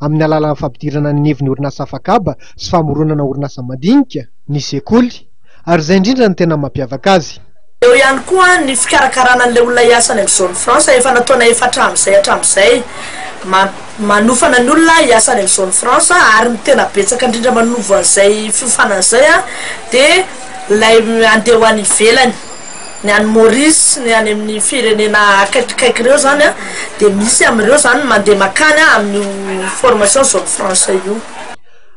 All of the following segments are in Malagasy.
amin'ny alalan'ny fampidirana ny anivon'ny orinasa afakaba sy famoronana orinasa mandinika ny sekoly ary izay indrindra no tena mampiavaka azy. Eo ihany koa ny fikarakarana an'ilay olona hiasa any amin'ny Zone Franche efa natao na efa hatramin'izay hatramin'izay. Manofana ny olona hiasa any amin'ny Zone Franche ary ny tena betsaka indrindra manovo an'izay fiofanana izay dia ilay handeha ho any ivelany. Ny any Maurice sy ny any amin'ny firenena akaikikaiky ireo izany an, dia misy amin'ireo izany ny mandeha mankany amin'io formation zone franche io.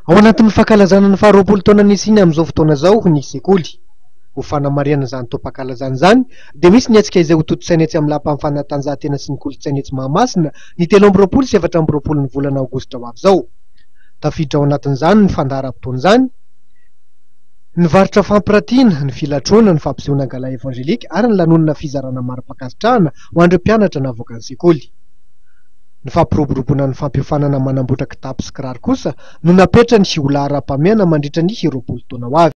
Ao anatin'ny fankalazana ny faharoapolo taona nisiany amin'izao fotoana izao ny sekoly. Ho fanamarihana izany taom-pankalazana izany dia misy ny hetsika izay hotontosaina etsy amin'ny lapan'ny fanatanjahantena sy ny kolontsaina etsy Mahamasina ny telo amby roapolo sy efatra amby roapolon'ny volana aogositra ho avy izao. Tafiditra ao anatin'izany ny fandaharam-potoana izany Nivarotra fampiratiana, ny filatroana, ny fampisehoana gala evangelika ary ny lanonana fizarana mari-pankasitrahana ho an'ireo mpianatra navoaka ny sekoly. Ny fampiroboroboana ny fampiofanana manamboatra kitapo sy kiraro kosa no napetrany ho laharam-pahamehana mandritra ny roapolo taona ho avy.